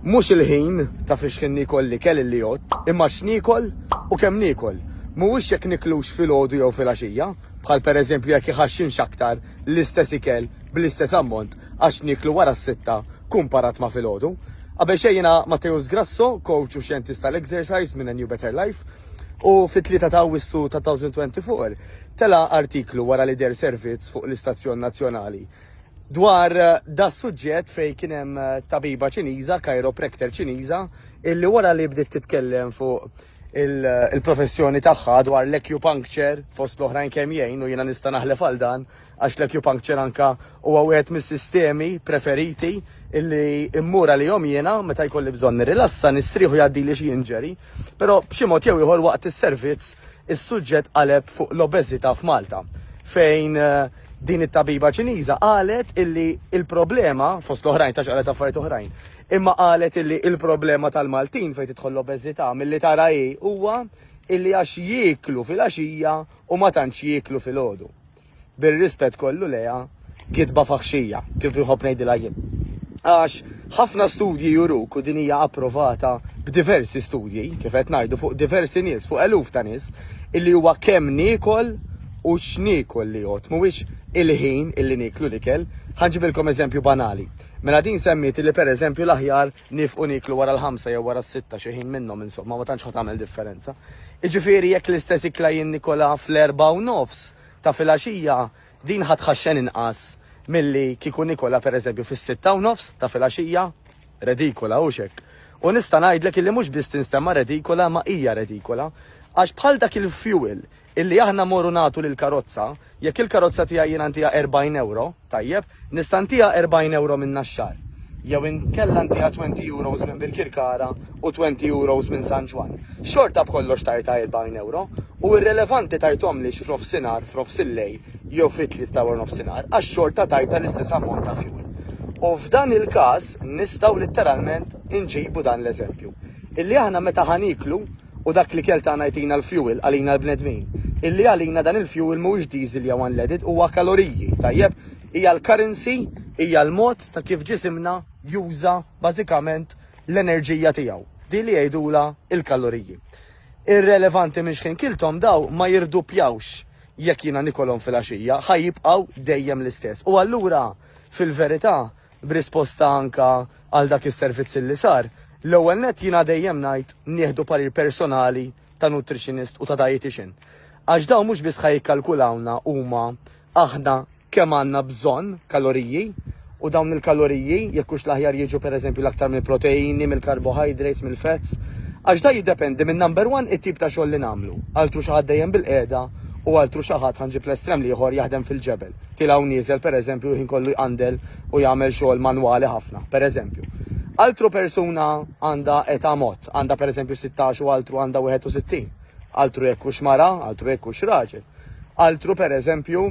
Mhux il-ħin ta' fiex ħin niekol l-ikel illi għodt, imma x'niekol u kemm niekol. Mhuwiex jekk niklux filgħodu jew filgħaxija, bħal pereżempju jekk iħaxxinx aktar l-istess ikel bl-istess ammont għax nieklu wara s-sitta kumparat ma' filgħodu. Qabel xejn jiena Matteus Grasso, coach u xjentist tal-exercise minn A New Better Life, u fit-Tlieta ta' Awwissu ta' 2024 tela' artiklu wara li deher servizz fuq l-istazzjon nazzjonali dwar eh, da suġġett fej kien hemm eh, tabiba ċiniża, chiropractor ċiniża, illi wara li bdiet titkellem fuq eh, il-professjoni tagħha dwar l-acupuncture fost l-oħrajn kemm jgħin u jiena nista' naħlef għal dan għax l-acupuncture anka huwa wieħed mis-sistemi preferiti illi immura li jom jiena meta jkolli bżonn nirrilassa nistrieħu jgħaddi li xi inġeri, però b'xi mod jew ieħor waqt is-servizz is-suġġett qaleb fuq l-obeżità f'Malta fejn Din it-tabiba Ċiniża qalet illi l-problema, fost l-oħrajn tax qalet affarijiet oħrajn, imma qalet illi l-problema tal-Maltin fejn tidħol l-obeżità milli tara hi huwa illi għax jieklu fil-għaxija u ma tantx jieklu filgħodu. Bir-rispett kollu lejha, gidba faħxija, kif inħobb ngħidilha jien. Għax ħafna studji juruk u din hija approvata b'diversi studji, kif qed ngħidu fuq diversi nies, fuq eluf ta' nies, illi huwa kemm niekol u x'niekol li jgħodd, mhuwiex il-ħin li nieklu l-ikel. Ħa nġibilkom eżempju banali. Mela din semmiet li pereżempju l-aħjar niefqu nieklu wara l-ħamsa jew wara s-sitta xi ħin minnhom insomma ma tantx ħa tagħmel differenza. Jiġifieri jekk l-istess ikla jinnikolha fl-erbgħa u nofs ta' filgħaxija din ħa tħaxxen inqas milli kieku nikolha pereżempju fis-sitta u nofs ta' filgħaxija. Redikola, hux hekk? U nista' ngħidlek illi mhux biss tinstemma redikola imma hija redikola għax bħal dak il-fuel Illi aħna mmorru nagħtu lill-karozza, jekk il-karozza tiegħi jiena ntiha 40 ewro, tajjeb, nista' ntiha 40 ewro minn Naxxar, jew inkella ntiha 20 euros minn Birkirkara u 20 euros minn San Ġwann. Xorta b'kollox tajtha 40 ewro, u irrelevanti tajthomlix f'nofsinhar, f'nofsillejl jew fit-tliet ta' warnofsinhar, għax xorta tajtha l-istess ammont ta' fuel. U f'dan il-każ nistgħu litteralment inġibu dan l-eżempju. Illi aħna meta ħa nieklu, U dak l-ikel tagħna jtina l-fjuwil għalina l-bnedmin. Illi għalina dan il-fjuwil mhuwiex diesel jew unleaded, huwa kaloriji, tajjeb? Hija l-currency, hija l-mod ta' kif ġisimna juża bażikament l-enerġija tiegħu, din li jgħidulha l-kaloriji. Irrelevanti minn xħin kilthom daw ma jirduppjawx jekk jiena nikolhom filgħaxija, ħa jibqgħu dejjem l-istess. U allura fil-verità B'risposta anka għal dak is-servizz li sar, l-ewwel nett jiena dejjem ngħid nieħdu parir personali ta' nutritionist u ta' dietitian. Għax dawn mhux biss ħa jikkalkulawna huma aħna kemm għandna bżonn kaloriji u dawn il-kaloriji jekk hux l-aħjar jiġu pereżempju l-aktar mill-proteini, mill-carbohydrates, mill-fats, għax da jiddependi minn number one it-tip ta' xogħol li nagħmlu. Altru xi ħadd dejjem bil-qiegħda u altru xi ħadd ħanġib l-estrem l-ieħor jaħdem fil-ġebel. tilgħa u nieżel pereżempju l-ħin kollu jqandel u jagħmel xogħol manwali ħafna, pereżempju. Altru persuna għandha età mod, għandha pereżempju sittax u altru għandha wieħed u sittin. Altru jekk hux mara, altru jekk hux raġel. Altru pereżempju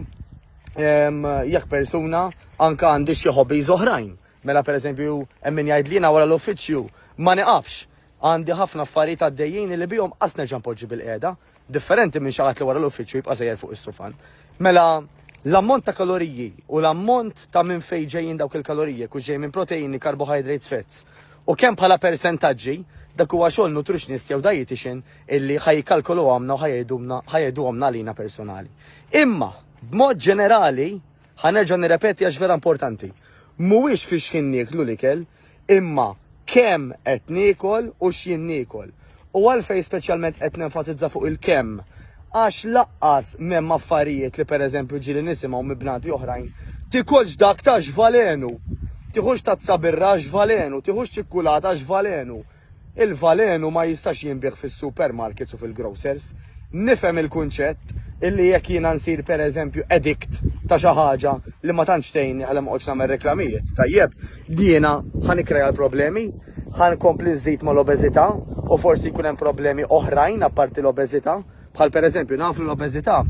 ehm, jekk persuna anke għandi xi hobbies oħrajn. Mela pereżempju hemm min jgħid li wara l-uffiċċju ma niqafx. Għandi ħafna affarijiet għaddejjin li bihom qas nerġa' npoġġi bil-qiegħda. Differenti minn xi ħadd li wara l-uffiċċju jibqa' sejjer fuq is-sufan. Mela l-ammont ta' kaloriji u l-ammont ta' minn fejn ġejjin dawk il-kaloriji kux ġej minn proteini, carbohydrates, fats u kemm bħala persentaġġi dak huwa xogħol nutritionist jew dietitian illi ħaj jikkalkolu għamna u ħajedumna ħajeduhomna għalina personali. Imma b'mod ġenerali ħanerġa' nirrepeti għax vera importanti. Mhuwiex fix-xħin nieklu l-ikel, imma kemm qed niekol u x'jien niekol. U għalfejn speċjalment qed nenfasizza fuq il-kemm? Għax laqqas m'hemm affarijiet li pereżempju ġieli nisimgħu minn bnadi oħrajn, Tikolx dak ta' x'valenu! Tieħux tazza birra għax x'valenu! Tieħux ċikkulata għax x'valenu! Il-valenu ma jistax jinbiegħ fis-supermarkets u fil-grocers. Nifhem il-kunċett illi jekk jiena nsir pereżempju addict ta' xi ħaġa li ma tantx tgħinni ħalli ma noqgħodx nagħmel reklamijiet, tajjeb, jiena ħa nikkrea l-problemi, ħa nkompli nżid mal-obeżità u forsi jkun hemm problemi oħrajn apparti l-obeżità, bħal pereżempju naf li l-obeżità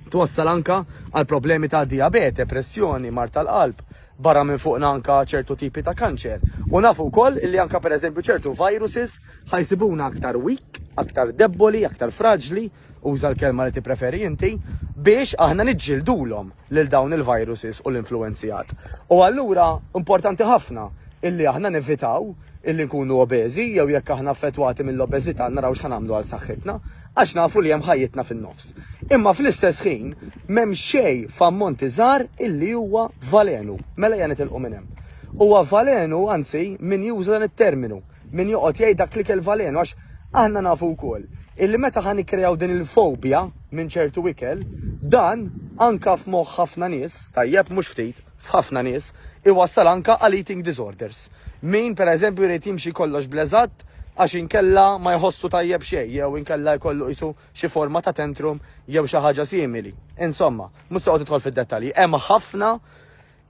twassal anke għal problemi ta' dijabete, pressjoni, mard tal-qalb, barra minn fuqna anka ċertu tipi ta' kanċer u nafu wkoll illi anka pereżempju ċertu viruses ħa jsibuna aktar weak, aktar debboli, aktar fraġli, uża l-kelma li tippreferi inti, biex aħna niġġildulhom lil dawn il-viruses u l-influwenzjat. U allura importanti ħafna illi aħna nevitaw illi nkunu obeżi jew jekk aħna affettwati mill-obeżità naraw x'ħa nagħmlu għal saħħitna, għax nafu li hemm ħajjitna fin-nofs. Imma fl-istess ħin, m'hemm xejn f'ammonti żgħar illi huwa valenu. Mela ejja nitilqu minn hemm. Huwa valenu, anzi, min juża dan it-terminu, min joqgħod jgħid dak l-ikel valenu għax aħna nafu wkoll illi meta ħa nikkreaw din il-fobja minn ċertu ikel, dan anka f'moħħ ħafna nies, tajjeb mhux ftit, f'ħafna nies, iwassal anka għal eating disorders. Min, pereżempju, jrid jimxi kollox bl-eżatt għax inkella ma jħossu tajjeb xejn jew inkella jkollu qisu xi forma ta' tantrum jew xi ħaġa simili. Insomma, mhux se noqgħod nidħol fid-dettalji, hemm ħafna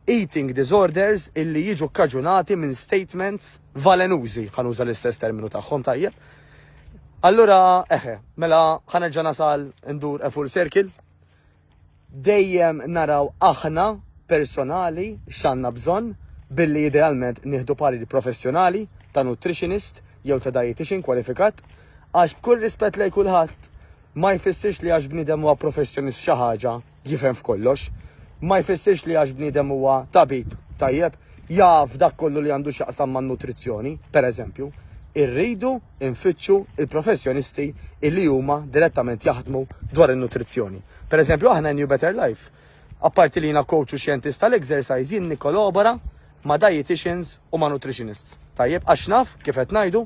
eating disorders illi jiġu kkaġunati minn statements valenużi, ħa nuża l-istess terminu tagħhom tajjeb. Allura, eħe, mela ħanerġa' nasal ndur a full circle. dejjem naraw aħna personali x'għandna bżonn billi idealment nieħdu parir professjonali ta' nutritionist jew ta' dietician kwalifikat għax b'kull rispett lejn kulħadd ma jfissirx li għax bniedem huwa professjonist f'xi ħaġa jifhem f'kollox. Ma jfissirx li għax bniedem huwa tabib tajjeb jaf dak kollu li għandu x'jaqsam man-nutrizzjoni, pereżempju, irridu nfittxu il-professjonisti illi huma direttament jaħdmu dwar in-nutrizzjoni. Pereżempju, aħna New Better Life, apparti li jiena coach u xjentist tal-exercise, jien nikkolabora ma' dietitians u ma' nutritionists. Tajjeb, għax naf, kif qed ngħidu,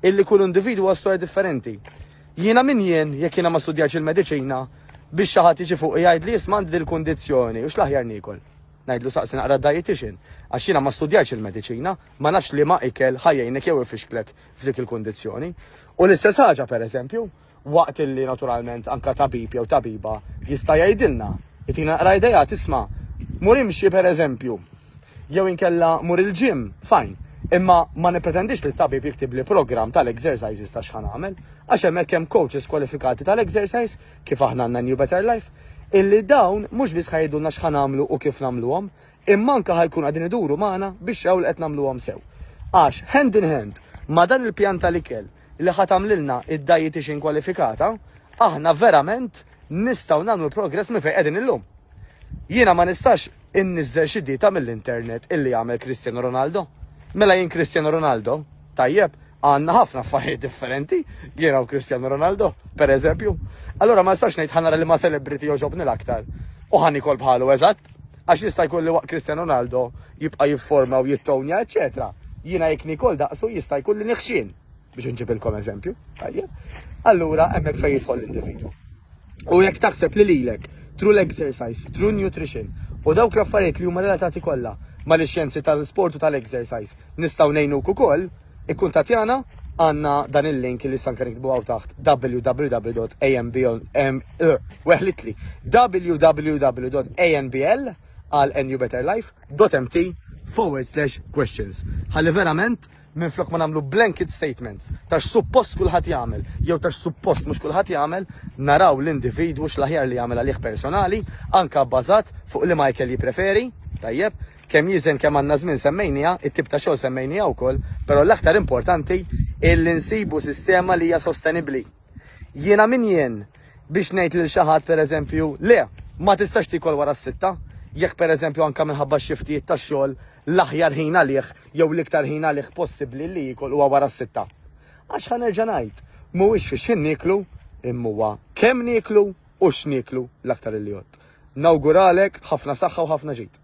illi kull individu huwa storja differenti. Jiena min jien jekk jiena ma studjax il-mediċina biex xi ħadd jiġi fuq jgħid li jisma' għandi dil-kundizzjoni u x'l-aħjar niekol. Ngħidlu saqsi naqra d-dietician, għax jiena ma studjajtx il-mediċina, ma nafx liema ikel ħa jgħinek jew ifixklek f'dik il-kundizzjoni. U l-istess ħaġa, pereżempju, waqt illi naturalment anka tabib jew tabiba jista' jgħidilna, jtina naqra idejat isma' mur imxi pereżempju, jew inkella mur il-ġim, fajn. Imma ma nipretendix li t-tabib jiktibli programm tal-exercises ta' x'ħan għamel, għax hemmhekk hemm coaches kwalifikati tal-exercise kif aħna għandna New Better Life, illi dawn mhux biss ħa jgħidulna x'ħa nagħmlu u kif nagħmluhom, imma anke ħa jkunu qegħdin iduru magħna biex jaraw li qed nagħmluhom sew. Għax hand in hand ma' dan il-pjan tal-ikel li ħa tagħmlilna id-dietitian kwalifikata, aħna verament nistgħu nagħmlu progress minn fejn qegħdin illum. Jiena ma nistax inniżżel xi dieta mill-internet illi jagħmel Cristiano Ronaldo. Mela jien Cristiano Ronaldo, Tajjeb, għanna ħafna affarijiet differenti, jiena u Cristiano Ronaldo, per eżempju. Allora ma nistax ngħid ħanara li ma celebrity joġobni l-aktar. U ħan ikol bħalu eżatt, għax jista' jkun li waqt Cristiano Ronaldo jibqa' jifforma u jittonja, eċetera. Jiena jekk nikol daqsu jista' jkun li niħxin biex nġibilkom eżempju. Tajjeb. Allura hemmhekk fejn jidħol l-individu. U jekk taħseb li lilek, true l-exercise, true nutrition, u dawk l-affarijiet li huma relatati kollha mal-xjenzi tal-sport u tal-exercise Nistgħu ngħinuk ukoll, ikkuntattjana għandna dan il-link li sanka nikbu għaw taħt www.anbl.weħlitli www.anbl għal NU Better Life .mt forward slash questions. Ħalli verament minn flok ma nagħmlu blanket statements tax suppost kulħadd jagħmel jew tax suppost mhux kulħadd jagħmel naraw l-individwu x'laħjar li jagħmel għalih personali anka bbażat fuq li Michael jippreferi tajjeb Kemm jiżen kemm għandna żmien semmejnieha, it-tip ta' xogħol semmejnieha wkoll, però l-aktar importanti hi li nsibu sistema li hija sostenibbli. Jiena min jien biex ngħid lil xi ħadd pereżempju, le, ma tistax tiekol wara s-sitta, jekk pereżempju anke minħabba x-xiftijiet tax-xogħol l-aħjar ħin għalih jew l-iktar ħin għalih possibbli li jiekol huwa wara s-sitta. Għax ħa nerġa' ngħid, mhuwiex fi x'ħin nieklu, imma huwa kemm nieklu u x'nieklu l-aktar li jgħodd. Nawguralek ħafna saħħa u ħafna ġid.